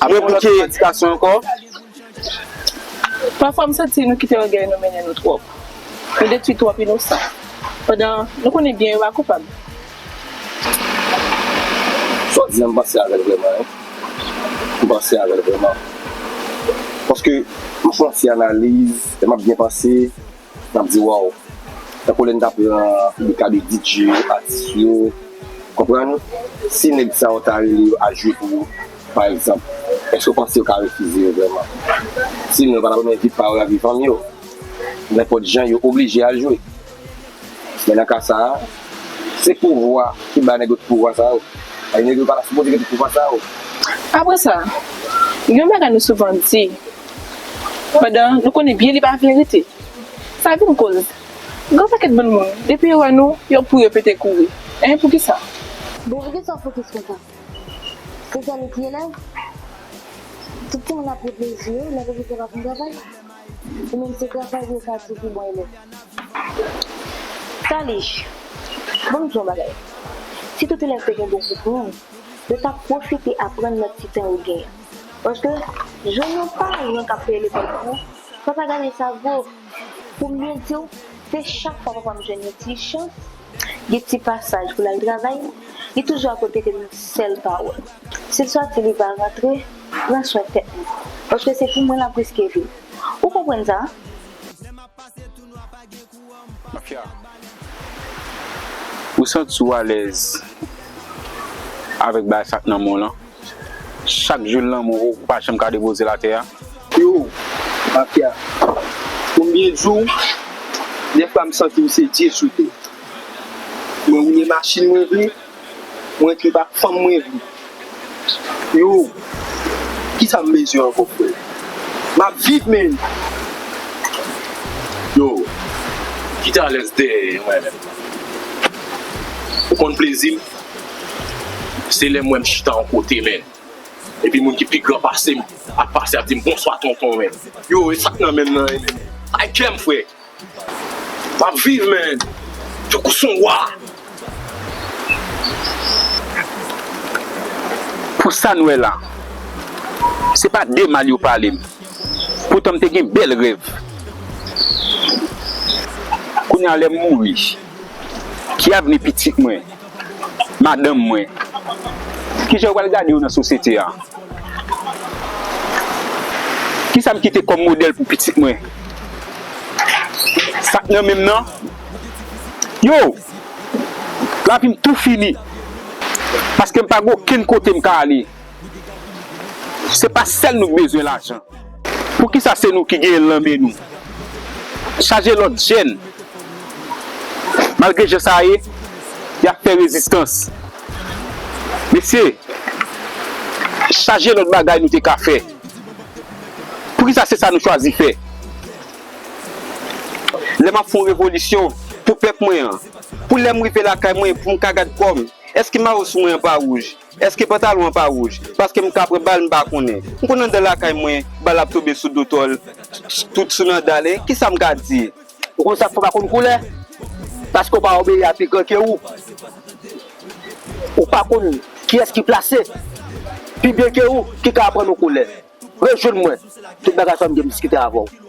Apre pou ki edikasyon ankò? Pafwa m santi nou kite ògèy nou mennen nou twòp. Nou detwi twòp inosan. Pandan nou konnen byen yo pa koupab. Sa w di an m panse avè l vrèman wi. M panse avè l vrèman. Paske m fè yon ti analiz e m ap byen panse Nap di waw. Tankou lè n ta pran li ka de DJ yo, atis yo. Konprann? Si nèg sa yo ta rele yo al jwe pou yo pa egzanp, èske w panse yo ka refize yo vrèman? Si non yo pa ta renmen vip pa yo lavi fanmi yo. Nenpòt jan yo oblije al jwe. Men nan ka sa a, se pouvwa ki ba nèg yo tout pouvwa sa yo. Nèg yo pa ta sipoze gen tout pouvwa sa yo. Apre sa, gen yon bagay nou souvan di. Pandan nou konnen byen li pa verite, sa vin koz gran pakèt bann moun depi yo wè nou yo pou yo pete kouri hein poukisa? Bon poukisa w fokis konsa? Se sèl ou ki elèv? Tout timoun ap reflechi yo lè pwofesè pa fin travay li. Ou menm se travay li yo ka di ou pi bon elèv. Salih, Bon m di w yon bagay, si tout elèv te gen bon koupman, yo t ap pwofite aprann nan ti tan yo gen an. Paske jwenn yon paran kap peye lekòl pou ou, sa pa gade sa vo. Poum byen diw, se chak fwa papam jwenn yon ti chans, gen ti pasaj poul al travay, li toujou akote kem yon sèl pawòl. Sil sòti li pa rantre, pran swen tèt nou. Paske se pou mwen lap riske vil. Ou konprann sa? Mafya ou santi w alèz avèk bagay sak nan men w lan? Chak jou lanmou ou pa janm ka depoze l atè a? Yo, mafya, konbyen jou dèfwa m santi m se Dye sou tè? Mwen woule machin mwen vre. Mwen trip ak fanm mwen vle yo kisa m bezwen ankò frè map viv men yo kite alèz dèyè mwen menm ou konn plezi m se lèm wèm chita yon kote men epi moun ki pi gran pasem ap pase ap dim bonswa tonton men yo esak nan menm nan e menm bay kèm frè. Map viv men tankou son wa. Pou sam wè la se pa de mal yo palem poutan m te gen bèl rèv kounya lèm mouri ki avni pitit mwen. Madanm mwen. Kijan yo pral gade yo nan sosyete a? Kisa m kite kòm modèl pou pitit mwen? Sa k nan men m nan? Yo! Lavi m tou fini! Paske m pa gen okenn kote m ka ale. Se pa sèl nou ki bezwen lajan. Poukisa se nou ki genyen l nan men nou? Chaje lòt jèn. Malgre jan sa ye, y ap fè rezistans. Mesye, chaje lòt bagay nou te ka fè. Poukisa se sa nou chwazi fè? Lè m ap fè yon revolisyon pou pèp mwen an, pou lè m rive lakay mwen pou m ka gad kò m, èske mayo sou mwen an pa wouj? Eske pantalon an pa rouj. Paske m ka pran bal m pa konnen. M konn andan lakay mwen bal ap tonbe sou do tòl tout sou nan dal e kisa m ka di. Ou konn sak fè w pa konn koulè. Paske w pa obeyi a pi gran ke ou. Ou pa konn kiyès ki plase pi byen ke ou ki ka aprann ou koulè. Rejwenn mwen tout bagay sa m gen m diskite avè w.